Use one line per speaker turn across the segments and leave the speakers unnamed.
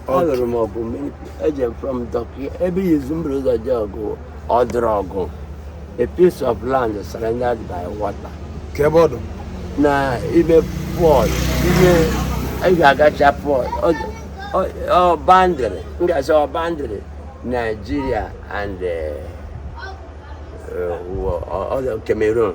alụrụ m ọgụ eje m front okay ebe izizi m buru ụzọ je ọgụ ọ dụrụ ọgụ a piece of land surrounded by water kee ebe ọ dụ
na
ime port ime ị ga-agacha port ọ boundary m ga-asị ọ boundary naijiria and uh, uh, uh, Cameroon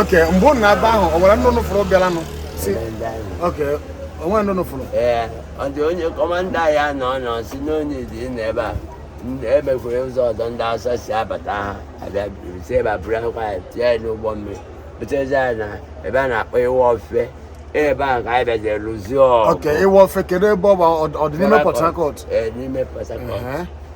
okay mgbe ụnụ na-aba ahụ ọ nwere ndị
ụnụ fụrụ bịaranụ si okay o nwe ndị ụnụ fụrụ ee ọ dị onye
kọmanda ya na ọ nọ si n'onye dị na ebe a e nwekwara ụzọ ọzọ ndị awụsa si abata ha abịa si ebe a burukwa anyị tiye anyị n'ụgbọ mmiri butezi anyị na ebe a na-akpọ iwofe ebe a ka anyị bịaje lụzie ọgụ okay iwofe kedu
ebe ọ bụ ọ dị n'ime port harcourt ee n'ime port harcourt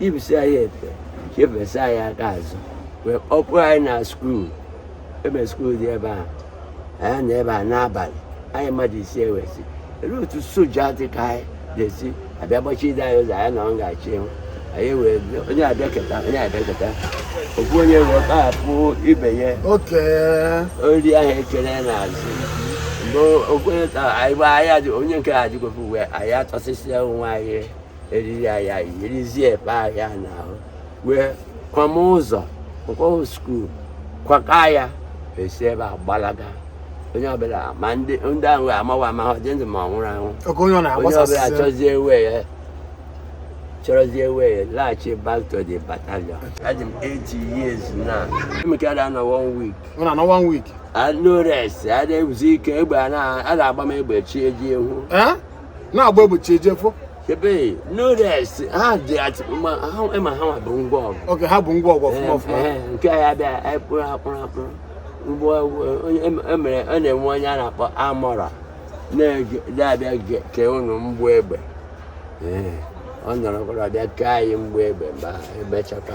yipụsị
anyị efe chịfesịa anyị aka azụ wee kpọpụ anyị na skuul ebe skuul dị ebe a anyị nọ ebe a n'abalị anyị mmadụ ise ewesi elu otu soja dị ka anyị ga-esi abịa gbachide anyị ụzọ anyị na ọ ga-achị ịhụ anyị wee onye abịaketa onye abịaketa ofu onye wee kpahapụ ibe ya eriri ahụ e kele n'azụ mgbe ofu onye anyị bụ ahịa onye nke a dịgo free wee anyị atọsịsịa onwe anyị eriri anyị eyirizie efe anyị n'ahụ wee kwama ụzọ nke ahụ skuul kwaka ya esi ebe a gbalaga onye ọbụla ma ndị ndị ahụ amaghị m ma ọ dị ndụ ma ọ nwụrụ anwụ Oge onye ọ onye ọbụla na-agbasasị chọzie way ya chọrọzie way ya laghachi back to the battalion adị m 80 years now emekara anọ one week ọ na-anọ one week
no rest
a na-ezuzi ike egbe a na- a na-agba m egbe chi ejie efo Eh?
na-agba egbe chi ejie efo
ebe no rest ha dị atị ma ha ịma ha nwa bu ngwa ọgụ okay ha bu ngwa ọgụ ọfụma
ọfụma Ee, nke anyị bụ anyị
kpụrụ ha kpụrụ ha kpụrụ mgbe onye emere ọ na-enwe onye a na-akpọ armourer na-abịa ge- kee ụnụ mgbọ egbe Ee, ọ nọrọkwara bịa kee anyị mgbọ egbe mgbe ahụ, emechaka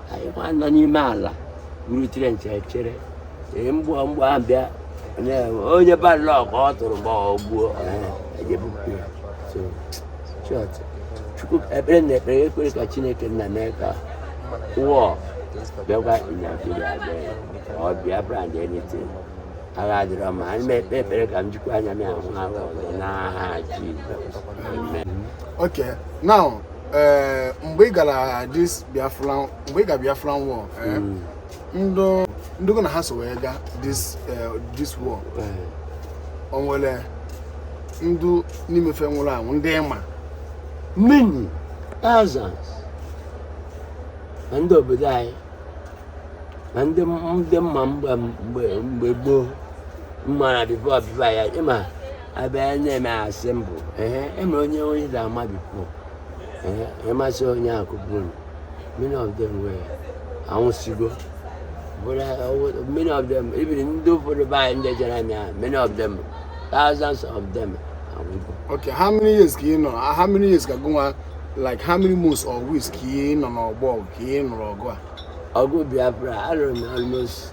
anyị nwa nọ n'ime ala buru trench echere ee mgbe mgbọ ahụ bịa na- onye bad luck ọ tụrụ ma ọ gbuo e je bupụ ya so short chukwu ekpere na ekpere ekwere ka chineke nna mee ka war bịakwa naijiria bịa ya ka ọ biafra and anything agha adịrọ ma anyị na-ekpe ekpere ka m jikwa anya m ahụ agha ọzọ n'aha jizọs amen
Okay, now ee mgbe ị gara this biafra mgbe ị ga biafra war ee, ndị ndị gị na ha so wee ga this eh, this war o nwere ndị n'ime fa nwụrụ anwụ ndị ịma
many thousands ma ndị obodo anyị ma ndị ndị m ma mgbe mgbe mgbe gboo m maara before before ya ịma ebe a na-eme assemble ehe emere onye onye da ama before ehe ịmasị onye akụgburu many of them were anwụsigo bụrụ ọwụ- many of them even ndị ụfọdụ be anyị ndị jere amị ahụ many of them thousands of them anwụgo Okay, how many
years ka ị nọ? Ah, How many years ka gụnwa like how many months or weeks ka ị nọ n'ọgbọ ọgụ ka ị nụrụ ọgụ a? ọgụ biafra
alụrụ m almost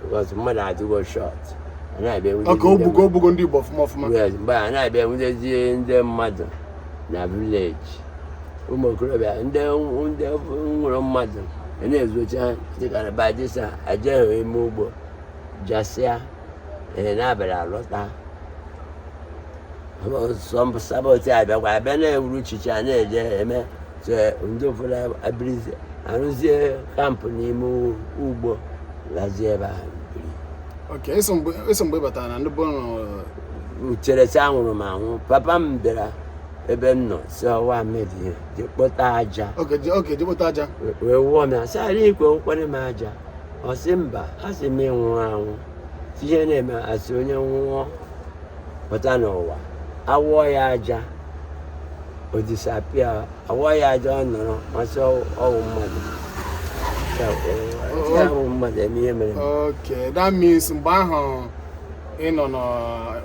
because mmadụ adịgo short
egbugo ndị Igbo ọfụma ọfụma mgbe a na-abịa
anwụdezi ndị mmadụ na village ụmụ okorobịa ndị wụrụ mmadụ a na-ezocha dịkarịba dịsa ajeghị ime ugbo jasịa ee n'abalị alọta sabọt abịakwa abịa na-ewuru chicha na-eje eme ndị ụfọdụ ebirizi arụzie camp n'ime ugbo lazie ebe ahụ biri
so mgbe batara na ndị bọọlụ echere
sị anwụrụ m anwụ papa m bịara ebe m nọ si ọwa mebie je kpọta
aja wee wụọ m ya
sị ala ikwe nkwanye m aja ọ sị mba a sị m ịnwụrụ anwụ ihe na-eme asị onye nwụọ pụta n'ụwa awụọ ya aja o disappear awụọ ya aja ọ nọrọ amasị ọ wụ mmadụ Ya, ọ- ya bụ mmadụ eme ihe mere okay that means
mgbe ahụ ị nọ nọ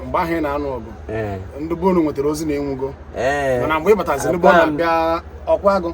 mgbe ahụ ị na-anụ ọgụ ee ndị be unu nwetara ozi na ị nwụgo ee mana mgbe ị bataziri ndị be unu abịa ọkwa agụ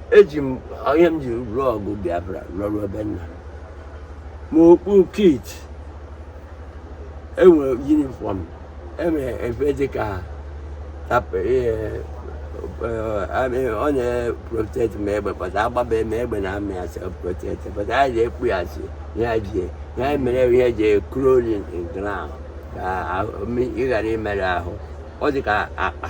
eji m ihe m ji rụọ ọgụ Biafra rụrụ ebe nna ma okpu kit enwere uniform enwere efe dịka ọ na-protect ma egbe pata agbaba ma egbe na amị asị protect pata anyị na-ekpu ya asị ya jie ya mere ihe ji crawling ground ka ị ghara imerụ ahụ ọ dị ka akpa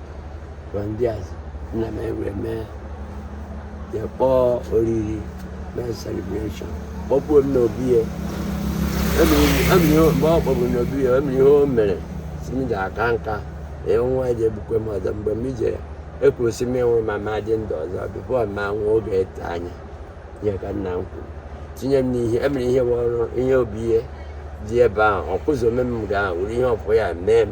gwa ndị azụ nna m ewere mee ya kpọọ oriri mee celebration kpọbuo m n'obi ya mgbe ọ kpọbụ n'obi ya emere ihe o mere si m ji aka nka ee nwa ji egbukwe m ọzọ mgbe m jere ekwuru si m ịnwụrụ ma ma dị ndụ ọzọ before ma nwa oge ete anya ihe ka nna m kwuru tinye m n'ihe emere ihe bụ ọrụ ihe obi ihe dị ebe ahụ ọkụzi omeme m ga-ahụ ihe ọfụ ya mee m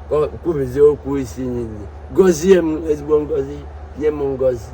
kwubizie okwu
isi niile gọzie m ezigbo ngọzi nye m ngọzi